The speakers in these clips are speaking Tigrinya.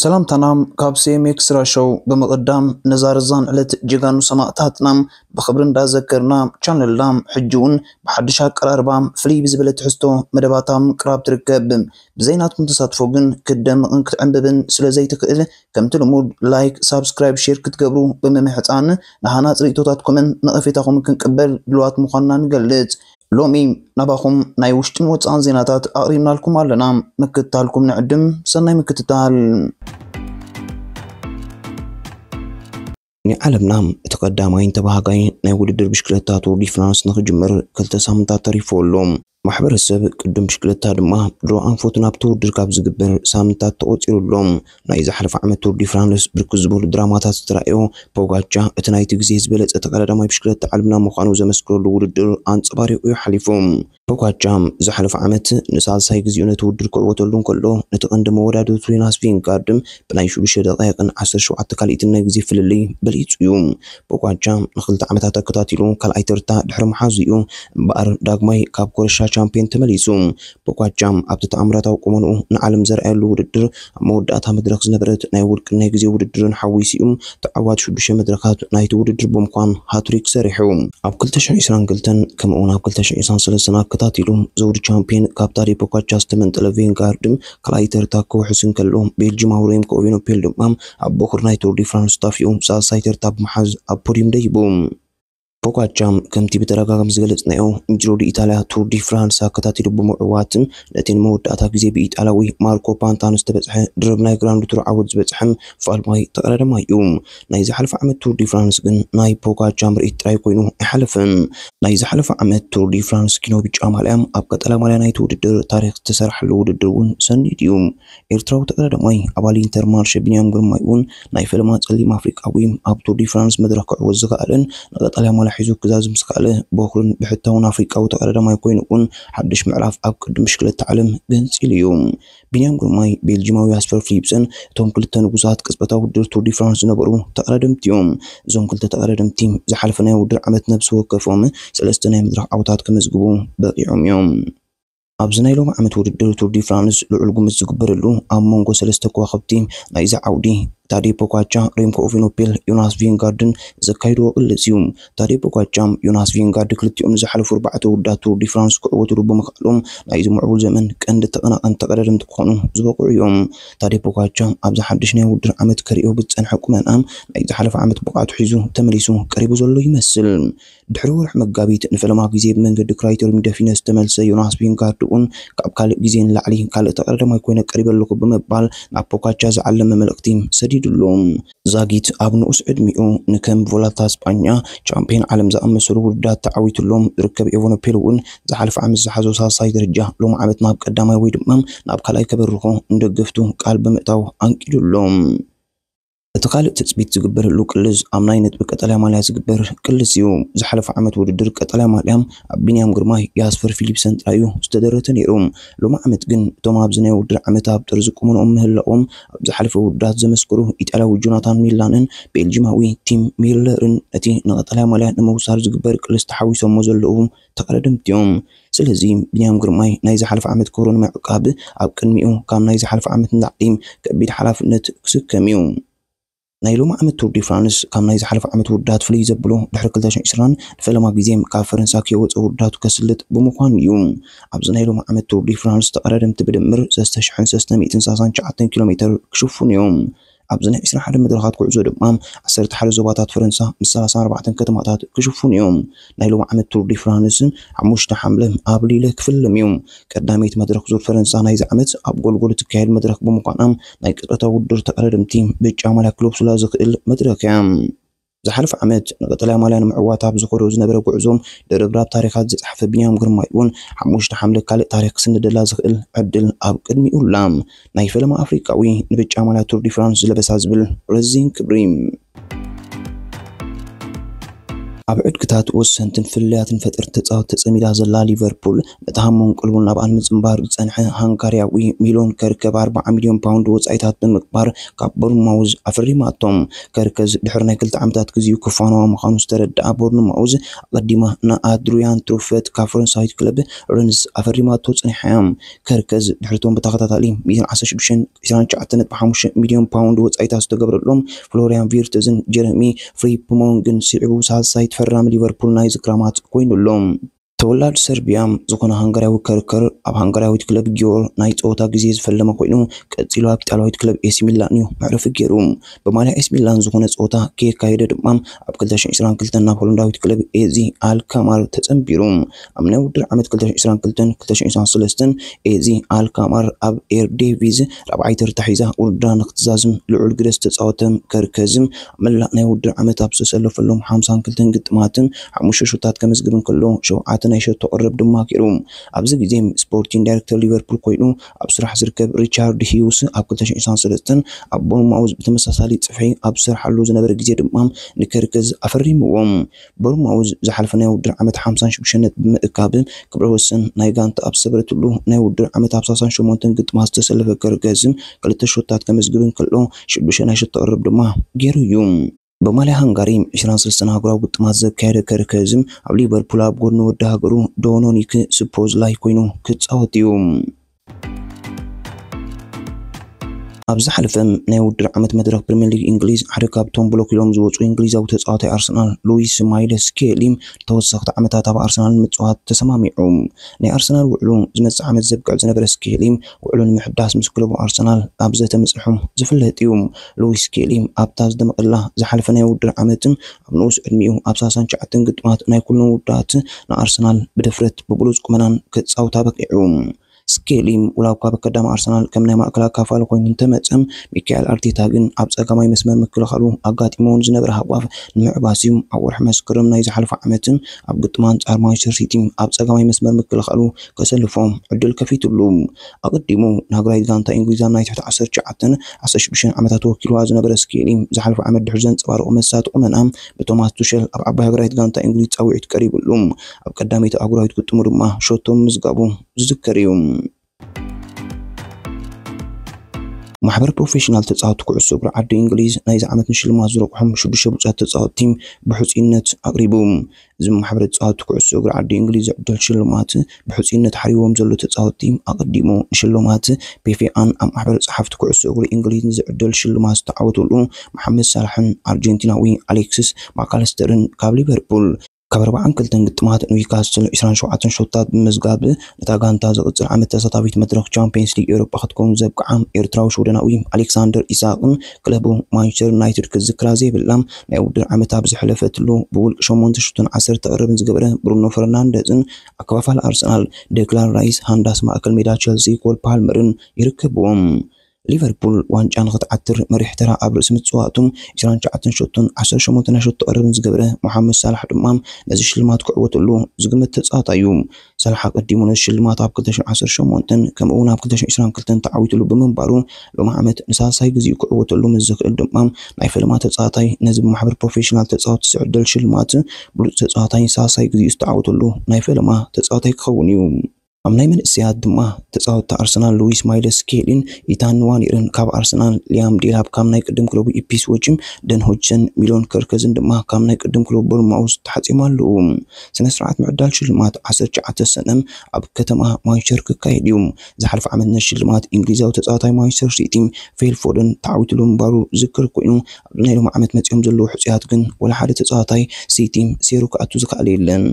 ሰላምታና ካብ ሲኤምኤክስ ራሾው ብምቕዳም ነዛ ርዛን ዕለት ጀጋኑ ሰማእታትና ብኽብሪ እንዳዘከርና ቻነልና ሕጂ እውን ብሓድሽ ኣቀራርባ ፍልይ ብዝበለ ትሕዝቶ መደባት ኣብ ምቅራብ ትርከብ። ብዘይ ናትኩም ተሳትፎ ግን ክትደምቕን ክትዕንብብን ስለ ዘይትኽእል ከምቲ ልሙድ ላይክ፣ ሳብስክራይብ፣ ሼር ክትገብሩ ብምምሕፃን ንሃናፂ ርእይቶታትኩምን ነቐፌታኹምን ክንቅበል ድሉዋት ምዃንና ንገልፅ። ሎሚ ናባኹም ናይ ውሽጥን ወፃእን ዜናታት ኣቕሪብናልኩም ኣለና። ምክትታልኩም ንዕድም። ሰናይ ምክትታል። ናይ ዓለምና እቲ ቀዳማይን ተባሃጋይ ናይ ውድድር ብሽክለታ ቱር ዲ ፍራንስ ንክጅምር ክልተ ሳምንታት ተሪፍዎ ኣሎ። ማሕበረሰብ ቅድድም ብሽክለታ ድማ ድሮ ኣንፈቱ ናብቲ ውድድር ካብ ዝግበር ሳምንታት ተቖፂሩ ኣሎ። ናይ ዝሓለፈ ዓመት ቱር ዲ ፍራንስ ብርክት ዝበሉ ድራማታት ዝተራእዮ ፖጋቻ እቲ ናይቲ ግዜ ዝበለጸ ተቐዳዳማይ ብሽክለታ ዓለምና ምዃኑ ዘመስክረሉ ውድድር ኣንጸባሪቑ እዩ ሓሊፉ። ፖጋቻ ዝሓለፈ ዓመት ንሳልሳይ ግዜኡ ነቲ ውድድር ክዕወተሉ እንከሎ፣ ነቲ ቀንዲ መወዳድርቱ ዮናስ ቪንጋርድ ብናይ ሽዱሽተ ደቓይቕን ዓሰርተ ሸውዓተ ካልኢትን ናይ ግዜ ፍልልይ በሊጹ እዩ። ፖጋቻ ንኽልተ ዓመታት ኣከታቲሉ ካልኣይ ተርታ ድሕሪ ምሓዙ እዩ እምበኣር ዳግማይ ካብ ኮረሻ ቻምፕዮን ተመሊሱ። ብቋጫ ኣብቲ ተኣምራታዊ ቁመንኡ ንዓለም ዘርኣየሉ ውድድር ኣብ መወዳእታ መድረኽ ዝነበረት ናይ ውልቅን ናይ ግዜ ውድድርን ሓዊሱ'ዩ ተዓዋቲ ሽዱሽተ መድረኻት ናይቲ ውድድር ብምኳን ሃትሪክ ሰሪሑ። ኣብ ክልተ ሽሕን ዒስራን ክልተን ከምኡ'ውን ኣብ ክልተ ሽሕን ዒስራን ሰለስተን ኣከታቲሉ ዘውዲ ቻምፕየን ካብ ታዴ ፖካቻ ዝተመንጠለ ቬንጋርድ ካልኣይ ተርታ ክውሕስ እንከሎ ቤልጂማዊ ሬምኮ ኦቪኖፔል ድማ ኣብ ቦኹሪ ናይ ቱር ዲ ፍራንስ ጣፍይኡ ሳልሳይ ተርታ ብምሓዝ ኣብ ፖድዩም ደይቡ። ፖጋቻም ከምቲ ብተደጋጋሚ ዝገለጽናዮ ንጁሮዲ ኢታልያ ቱር ዲ ፍራንስ ኣከታቲሉ ብምዕዋትን ነቲ ንመወዳእታ ግዜ ብኢጣልያዊ ማርኮ ፓንታኖ ዝተበጽሐ ድርብ ናይ ግራንድ ቱር ዓወት ዝበጽሐን ፋልማይ ተቐዳዳማይ እዩ። ናይ ዝሓለፈ ዓመት ቱር ዲ ፍራንስ ግን ናይ ፖጋቻ ምርኢት ጥራይ ኮይኑ ኣይሓለፈን። ናይ ዝሓለፈ ዓመት ቱር ዲ ፍራንስ ኪኖ ብጫ ማልያ ኣብ ቀጠልያ ማልያ ናይቲ ውድድር ታሪኽ ዝተሰርሓሉ ውድድር እውን ሰኒዱ እዩ። ኤርትራዊ ተቀዳዳማይ ኣባል ኢንተርማርሸ ቢንያም ግርማይ እውን ናይ ፈለማ ጸሊም ኣፍሪቃዊ ኣብ ቱር ዲ ፍራንስ መድረኽ ክዕወት ዝኸኣለን ንቀጠልያ ማልያ ሒዙ ክዛዝም ዝኸኣለ በኩርን ብሕታውን ኣፍሪቃዊ ተቀዳዳማይ ኮይኑ እውን ሓድሽ ምዕራፍ ኣብ ቅዲ ብሽክለታ ዓለም ገንጺሉ እዩ። ቢንያም ግርማይ ቤልጂማዊ ያስፐር ፍሊፕሰን እቶም ክልተ ንጉሳት ቅጽበታዊ ውድድር ቱር ዲ ፍራንስ ዝነበሩ ተቀዳደምቲ እዮም። እዞም ክልተ ተቀዳደምቲ ዝሓለፈ ናይ ውድድር ዓመት ነብሲ ወከፎም ሰለስተ ናይ መድረኽ ዓወታት ከመዝግቡ በቒዖም እዮም። ኣብዚ ናይ ሎሚ ዓመት ውድድር ቱር ዲ ፍራንስ ልዑል ግምት ዝግበረሉ ኣብ መንጎ ሰለስተ ከዋኽብቲ ናይዚ ዓውዲ ታዴ ፖጋቻ፣ ሬምኮ ኦቪኖፔል፣ ዮናስ ቪንጋርድን ዘካይድዎ ቅልስ እዩ። ታዴ ፖጋቻ፣ ዮናስ ቪንጋርድ ክልቲኦም ንዝሓለፉ ኣርባዕተ ውድድራት ቱር ዲ ፍራንስ ክዕወትሉ ብምኽኣሎም ናይዚ ምዕቡል ዘመን ቀንዲ ተቐናቐንቲ ተቐዳደምቲ ክኾኑ ዝበቕዑ እዮም። ታዴ ፖጋቻ ኣብዚ ሓድሽ ናይ ውድድር ዓመት ከርእዮ ብዝጸንሐ ቁመና ናይ ዝሓለፈ ዓመት ብቕዓቱ ሒዙ ተመሊሱ ቀሪቡ ዘሎ ይመስል። ድሕሪ ወርሒ መጋቢት ንፈለማ ግዜ ብመንገዲ ክራይተርዩም ደፊነ ዝተመልሰ ዮናስ ቪንጋርድ'ውን ካብ ካልእ ግዜ ንላዕሊ ካልእ ተቐዳዳማይ ኮይነ ቀሪበ ኣለኹ ብምባል ናብ ፖጋቻ ዝዓለመ መልእኽቲ ሰዲድሉ። ዛጊት ኣብ ንኡስ ዕድሚኡ ንከም ቮልታ ስጳኛ፣ ቻምፕዮን ዓለም ዝኣመሰሉ ውድድራት ተዓዊቱሎም ዝርከብ ኤቨነፔል'ውን ዝሓለፈ ዓመት ዝሓዞ ሳልሳይ ደረጃ ሎሚ ዓመት ናብ ቀዳማይ ወይ ድማ ናብ ካልኣይ ከበርኾ ንደገፍቱ ቃል ብምእታው ኣንቂዱ'ሎ። እቲ ካልእ ትፅቢት ዝግበረሉ ቅልስ ኣብ ናይ ነጥቢ ቀጠልያ ማልያ ዝግበር ቅልስ እዩ። ዝሓለፈ ዓመት ውድድር ቀጠልያ ማልያ ኣብ ቢንያም ግርማይ፣ ያስፐር ፊሊፕሰን ጥራይ እዩ ዝተደረተ ነይሩ። ሎሚ ዓመት ግን እቶም ኣብዚ ናይ ውድድር ዓመት ኣብ ጥርዚ ቁመንኦም ምህላዎም ኣብ ዝሓለፈ ውድድራት ዘመስከሩ ኢጣልያዊ ጆናታን ሚላንን ቤልጂማዊ ቲም ሚለርን ነቲ ንቀጠልያ ማልያ ንምውሳድ ዝግበር ቅልስ ተሓዊሶሞ ዘለዉ ተቐዳደምቲ እዮም። ስለዚ ቢንያም ግርማይ ናይ ዝሓለፈ ዓመት ክብሩ ንምዕቃብ ኣብ ቅድሚኡ ካብ ናይ ዝሓለፈ ዓመት ንላዕሊ ከቢድ ሓላፍነት ክስከም እዩ። ናይ ሎሚ ዓመት ቱር ዲ ፍራንስ ካብ ናይ ዝሓለፈ ዓመት ውርዳት ፍልይ ዘብሎ ድሕሪ ክልተ ሽሕን ዕስራን ንፈለማ ግዜ ካብ ፈረንሳ ከይወፀ ውርዳቱ ከስልጥ ብምዃኑ እዩ። ኣብዚ ናይ ሎሚ ዓመት ቱር ዲ ፍራንስ ተቐዳደምቲ ብድምር ሰስተ ሽሕን ሰስተ ሚእትን ሳሳን ትሽዓተን ኪሎ ሜተር ክሽፍኑ እዮም። ኣብዚ ናይ ዕስራን ሓደን መድረኻት ጉዕዞ ድማ ዓሰርተ ሓደ ዞባታት ፈረንሳ ምስ ሰላሳን ኣርባዕተን ከተማታት ክሽፍኑ እዮም። ናይ ሎሚ ዓመት ቱር ዲ ፍራንስ ሓሙሽተ ሓምለ ኣብ ሊለ ክፍለም እዩ። ቀዳመይቲ መድረኽ ዙር ፈረንሳ ናይዚ ዓመት ኣብ ጎልጎል እትካየድ መድረኽ ብምዃና ናይ ቅጥዕታዊ ውድድር ተቐዳደምቲ ብጫ ማልያ ክለብሱላ ዝኽእል መድረኽ እያ። ዝሓለፈ ዓመት ንቀጠልያ ማልያ ንምዕዋት ኣብ ዝኸዶ ዝነበረ ጉዕዞ፣ ድርብራብ ታሪኻት ዝጸሓፈ ቢንያም ግርማይ'ውን ሓሙሽተ ሓምለ ካልእ ታሪኽ ክስንደላ ዝኽእል ዕድል ኣብ ቅድሚኡ ኣላ። ናይ ፈለማ ኣፍሪቃዊ ንብጫ ማልያ ቱር ዲ ፍራንስ ዝለበሳ ዝብል ረዚን ክብሪ። ኣብ ዕድግታት ወሰንትን ፍልልያትን ፈጠርቲ ተጻወቲ ተጸሚዳ ዘላ ሊቨርፑል፣ ነቲ ሃሞን ቀልቡን ናብ ኣልምጽምባር ዝጸንሐ ሃንጋርያዊ ሚሎን ከርከ ብ ኣርብዓ ሚልዮን ፓውንድ ወጻኢታት ብምግባር ካብ ቦርንማውዝ ኣፈሪማቶ። ከርከ ድሕሪ ናይ ክልተ ዓመታት ግዜኡ ክፋነዋ ምዃኑ ዝተረድኣ ቦርንማውዝ ኣቐዲማ ን ኣድርያን ትሩፈት ካብ ፈረንሳዊት ክለብ ረንስ ኣፈሪማቶ ጸኒሓ'ያ። ከርከ ድሕሪ'ቶም ብተኸታታሊ ሚእትን ዓሰርተ ሽዱሽተን ዕስራን ትሽዓተን ነጥቢ ሓሙሽተ ሚልዮን ፓውንድ ወጻኢታት ዝተገብረሎም ፍሎርያን ቪርትዝን ጀረሚ ፍሪፕሞንግን ስዒቡ ሳልሳይ ተፈራሚ ሊቨርፑል ናይዚ ክራማት ኮይኑ ኣሎ። ተወላዲ ሰርቢያ ዝኾነ ሃንጋርያዊ ከርከር ኣብ ሃንጋርያዊት ክለብ ጊዮር ናይ ጸወታ ግዜ ዝፈለመ ኮይኑ ቀጺሉ ኣብ ኢጣልያዊት ክለብ ኤሲ ሚላን እዩ መዕረፊ ገይሩ። ብማልያ ኤሲ ሚላን ዝኾነ ጸወታ ከየካየደ ድማ ኣብ 2022 ናብ ሆላንዳዊት ክለብ ኤዚ ኣልካማር ተጸንቢሩ። ኣብ ናይ ውድድር ዓመት 2022 2023 ኤዚ ኣልካማር ኣብ ኤርዴቪዝ ራብዓይ ተርታ ሒዛ ውድድራ ንክትዛዝም ልዑል ግደ ዝተጻወተ ከርከዝ መላእ ናይ ውድድር ዓመት ኣብ ዝተሰለፈሎም ሓምሳን ክልተን ግጥማትን ሓሙሽተ ሸቶታት ከመዝግብ እንከሎ፣ ሸውዓተ ናይ ሸቶ ቀረብ ድማ ገይሩ። ኣብዚ ግዜ ስፖርቲን ዳይረክተር ሊቨርፑል ኮይኑ ኣብ ስራሕ ዝርከብ ሪቻርድ ሂውስ ኣብ ክልተ ሽሕ ዕስራን ሰለስተን ኣብ ቦርንማውዝ ብተመሳሳሊ ጽፍሒ ኣብ ዝሰርሓሉ ዝነበረ ግዜ ድማ ንከርከዝ ኣፈሪምዎ። ብርሞዊ ዝሓለፈ ናይ ውድድር ዓመት ሓምሳን ሽዱሽተን ነጥቢ ብምእካብ ክብረ ወሰን ናይ ጋንታ ኣብ ዝሰበረትሉ ናይ ውድድር ዓመት ኣብ ሳሳን ሸሞንተን ግጥማት ዝተሰለፈ ከርገዝም ክልተ ሸቶታት ከመዝግብ እንከሎ ሽዱሽተ ናይ ሸቶ ቅርርብ ድማ ገይሩ እዩ። ብማልያ ሃንጋሪ ዕስራን ሰለስተን ኣህጉራዊ ግጥማት ዘካየደ ከርከዝም ኣብ ሊቨርፑል ኣብ ጎድኒ ወዲ ሃገሩ ዶኖኒክ ስፖዝላይ ኮይኑ ክጻወት እዩ። ኣብ ዝሓለፈ ናይ ውድድር ዓመት መድረኽ ፕሪምየር ሊግ እንግሊዝ ሓደ ካብቶም ብሎክ ኢሎም ዝወፁ እንግሊዛዊ ተፃዋታይ ኣርሰናል ሉዊስ ማይልስ ስኬሊ ተወሰኽቲ ዓመታት ኣብ ኣርሰናል ንምፅዋት ተሰማሚዑ። ናይ ኣርሰናል ውዕሉ ዝመፅእ ዓመት ዘብቅዕ ዝነበረ ስኬሊ ውዕሉ ንምሕዳስ ምስ ክለቡ ኣርሰናል ኣብ ዘተ ምፅንሑ ዝፍለጥ እዩ። ሉዊስ ስኬሊ ኣብታ ዝደመቐላ ዝሓለፈ ናይ ውድድር ዓመት ኣብ ንኡስ ዕድሚኡ ኣብ ሰላሳን ትሽዓተን ግጥማት ናይ ኩለን ውድድራት ንኣርሰናል ብድፍረት ብብሉጽ ቁመናን ከጻውታ በቒዑ። ስኬሊ ዋላ'ኳ ኣብ ኣከዳሚ ኣርሰናል ከም ናይ ማእከል ኣካፋሊ ኮይኑ እንተመጸ፣ ሚካኤል ኣርቴታ ግን ኣብ ጸጋማይ መስመር ምክልኻሉ ኣጋጢምዎ ንዝነበረ ሃጓፍ ንምዕባስ'ዩ። ኣብ ወርሒ መስከረም ናይ ዝሓለፈ ዓመት ኣብ ግጥም ኣንጻር ማንቸስተር ሲቲ ኣብ ጸጋማይ መስመር ምክልኻሉ ከሰልፎ ዕድል ከፊትሉ። ኣቐዲሙ ንሃገራዊት ጋንታ ኢንግሊዝ ኣብ ናይ ትሕቲ ዓሰርተ ትሽዓተን ዓሰርተ ሽዱሽተን ዓመታት ወኪልዋ ዝነበረ ስኬሊ፣ ዝሓለፈ ዓመት ድሕሪ ዘንጸባረቖ መሳጢ ቁመና ብቶማስ ቱሸል ኣብ ዓባይ ሃገራዊት ጋንታ ኢንግሊዝ ጻውዒት ቀሪብሉ ኣብ ቀዳመይቲ ኣህጉራዊት ግጥሙ ድማ ሸቶ ምምዝጋቡ ዝዝከር'ዩ። ማሕበር ፕሮፌሽናል ተጻወትቲ ኩዕሶ እግሪ ዓዲ እንግሊዝ ናይዚ ዓመት ንሽልማት ዝረቑሖም ሽዱሽተ ብሉጻት ተጻወትቲ ብሕጹይነት ኣቕሪቡ። እዚ ማሕበረ ተጻወቲ ኩዕሶ እግሪ ዓዲ እንግሊዝ ዝዕደል ሽልማት ብሕጹይነት ሓሪዎም ዘሎ ተጻወቲ ኣቐዲሙ ንሽልማት ፔፌኣን ኣብ ማሕበረ ጸሓፍቲ ኩዕሶ እግሪ እንግሊዝ ንዝዕደል ሽልማት ዝተዓወተሉ መሓመድ ሳላሕን ኣርጀንቲናዊ ኣሌክስስ ማካለስተርን ካብ ሊቨርፑል ካብ ኣርብዓን ክልተን ግጥማት ኒውካስትል ዕስራን ሸውዓተን ሸቶታት ብምምዝጋብ ነታ ጋንታ ዝቕጽል ዓመት ተሳታፊት መድረኽ ቻምፕየንስ ሊግ ኤውሮጳ ክትከውን ዘብቅዓ ኤርትራዊ ሽወደናዊ ኣሌክሳንደር ኢሳቕን ክለቡ ማንቸስተር ዩናይትድ ክዝክራ ዘይብላ ናይ ውድድር ዓመት ኣብ ዝሐለፈትሉ ብውልቂ ሸሞንተ ሹቶን ዓሰርተ ቀረብን ዝገበረ ብሩኖ ፈርናንደዝን ኣከፋፋሊ ኣርሰናል ደክላን ራይስ ሃንዳስ ማእከል ሜዳ ቸልሲ ኮል ፓልመርን ይርከብዎም። ሊቨርፑል ዋንጫ ንኽትዓትር መሪሕ ተራ ኣብ ርእሲ ምጽዋቱ ዕስራን ትሽዓተን ሸቶን ዓሰርተ ሸሞንተ ናይ ሸቶ ቀረብን ዝገበረ ሞሓመድ ሳላሕ ድማ ነዚ ሽልማት ክዕወተሉ ዝግመት ተጻዋታይ'ዩ። ሳላሕ ኣቐዲሙ ነዚ ሽልማት ኣብ 2018ን ከምኡ'ውን ኣብ 2022ን ተዓዊትሉ ብምንባሩ ሎሚ ዓመት ንሳልሳይ ግዜኡ ክዕወተሉ ምስ ዝኽእል ድማ ናይ ፈለማ ተጻዋታይ ነዚ ብማሕበር ፕሮፌሽናል ተጻወቲ ዝዕደል ሽልማት ብሉጽ ተጻዋታይ ሳልሳይ ግዜኡ ዝተዓወተሉ ናይ ፈለማ ተጻዋታይ ክኸውን እዩ። ኣብ ናይ መንእሰያት ድማ ተጻወቲ ኣርሰናል ሉዊስ ማይለስ ስኬሊን ኢታን ንዋኔርን ካብ ኣርሰናል፣ ሊያም ዴላፕ ካብ ናይ ቅድም ክለቡ ኢፕስዊችን፣ ደን ሆጅሰን፣ ሚሎን ከርከዝን ድማ ካብ ናይ ቅድም ክለቡ ቦርንማውዝ ተሓጽዮም ኣለዉ። ስነስርዓት ምዕዳል ሽልማት ዓሰርተ ትሽዓተ ሰነ ኣብ ከተማ ማንቸስተር ክካየድ እዩ። ዝሓለፈ ዓመት ነቲ ሽልማት እንግሊዛዊ ተጻዋታይ ማንቸስተር ሲቲ ፊል ፎደን ተዓዊትሉ ምንባሩ ዝዝከር ኮይኑ ኣብዚ ናይ ሎሚ ዓመት መጺኦም ዘለዉ ሕጹያት ግን ወላ ሓደ ተጻዋታይ ሲቲ ሴሩ ክኣቱ ዝከኣለ የለን።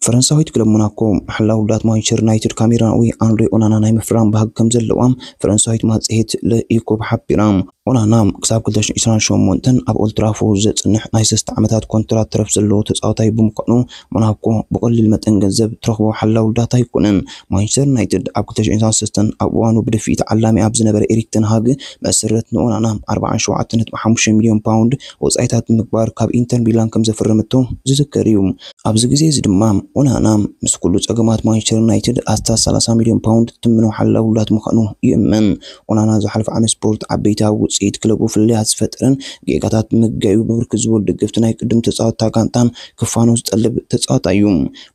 ፈረንሳዊት ክለብ ሞናኮ መሓላ ውዳት ማንቸስተር ዩናይትድ ካሜራዊ ኣንድሬ ኦናና ናይ ምፍራም ባህጊ ከም ዘለዋ ፈረንሳዊት ማጽሄት ለኢኮብ ሓቢራ። ኦናና ክሳብ ክልተ ሽሕ ዕስራን ሸሞንተን ኣብ ኦልትራፎርድ ዘጽንሕ ናይ ሰለስተ ዓመታት ኮንትራት ተረፍ ዘለዎ ተጻዋታይ ብምዃኑ፣ ሞናኮ ብቐሊል መጠን ገንዘብ እትረኽቦ ሓላው ዳታ ኣይኮነን። ማንቸስተር ዩናይትድ ኣብ ክልተ ሽሕ ዕስራን ሰለስተን ኣብ እዋኑ ብድፍኢት ተዓላሚ ኣብ ዝነበረ ኤሪክ ተን ሃግ መሰረት ንኦናና ኣርብዓን ሸውዓተ ነጥቢ ሓሙሽተ ሚልዮን ፓውንድ ወጻኢታት ብምግባር ካብ ኢንተር ሚላን ከምዘፈረመቶ ዝዝከር እዩ። ኣብዚ ግዜ እዚ ድማ ኦናና ምስ ኩሉ ጸገማት ማንቸስተር ዩናይትድ ኣስታት ሰላሳ ሚልዮን ፓውንድ ትትምኖ ሓላው ዳት ምዃኑ ይእመን። ኦናና ዝሓለፈ ዓመት ስፖርት ዓበይቲ ኣብ ውጽኢት ክለቡ ፍልልያት ዝፈጠረን ጌጋታት ብምግጋይ'ዩ ብብርክት ዝበሉ ደገፍቲ ናይ ቅድም ተጻወትታ ጋንታ ክፋኖ ዝጠልብ ተጻዋታይ'ዩ።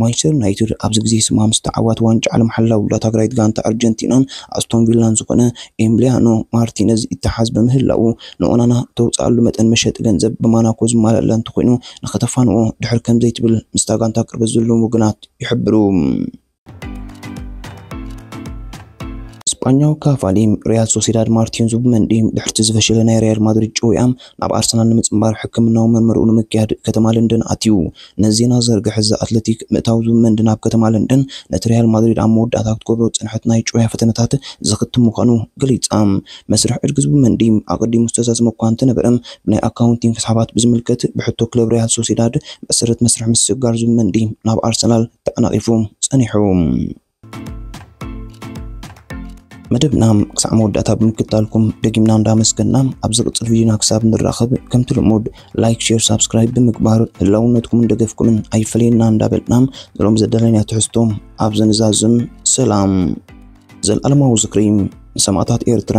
ማንቸስተር ዩናይትድ ኣብዚ ግዜ ስማ ምስ ተዓዋቲ ዋንጫ ዓለም ሓላው ዳታግራይት ጋንታ ኣርጀንቲናን ኣስቶን ቪላን ዝኾነ ኤምልያኖ ማርቲነዝ ይተሓዝ ብምህላዉ ንኦናና እተውጽኣሉ መጠን መሸጢ ገንዘብ ብማናኮ ዝማልኣላ እንተኾይኑ ንኸተፋንዎ ድሕር ከምዘይትብል ምስታ ጋንታ ቅርበት ዘለዎም ወገናት ይሕብሩ። ስጳኛዊ ካቫሊም ሪያል ሶሲዳድ ማርቲን ዙብመንዲም ድሕርቲ ዝፈሸለ ናይ ሪያል ማድሪድ ጭውያም ናብ ኣርሰናል ንምጽንባር ሕክምናዊ ምርምርኡ ንምክያድ ከተማ ለንደን ኣትዩ። ነዚ ዜና ዝዘርግሐ ዘ ኣትለቲክ፣ ምእታው ዙብመንዲ ናብ ከተማ ለንደን ነቲ ሪያል ማድሪድ ኣብ መወዳእታ ክትገብሮ ዝጸንሐት ናይ ጭውያ ፈተነታት ዝኽትም ምዃኑ ገሊጻ። መስርሕ ዕድጊ ዙብመንዲ ኣቐዲሙ ዝተዛዘመ እኳ እንተነበረ፣ ብናይ ኣካውንቲንግ ክስሓባት ብዝምልከት ብሕቶ ክለብ ሪያል ሶሲዳድ መሰረት መስርሕ ምስግጋር ዙብመንዲ ናብ ኣርሰናል ተዓናቒፉ ጸኒሑ። መደብና ክሳዕ መወዳእታ ብምክታልኩም ደጊምና እንዳመስገና ኣብ ዝቕጽል ቪድዮና ክሳብ ንራኸብ ከምቲ ልሙድ ላይክ፣ ሼር፣ ሳብስክራይብ ብምግባር ህላውነትኩምን ደገፍኩምን ኣይፈለየና እንዳበልና ንሎም ዘዳለናዮ ትሕዝቶ ኣብዚ ንዛዝም። ሰላም ዘልኣለማዊ ዝክሪ ንሰማእታት ኤርትራ!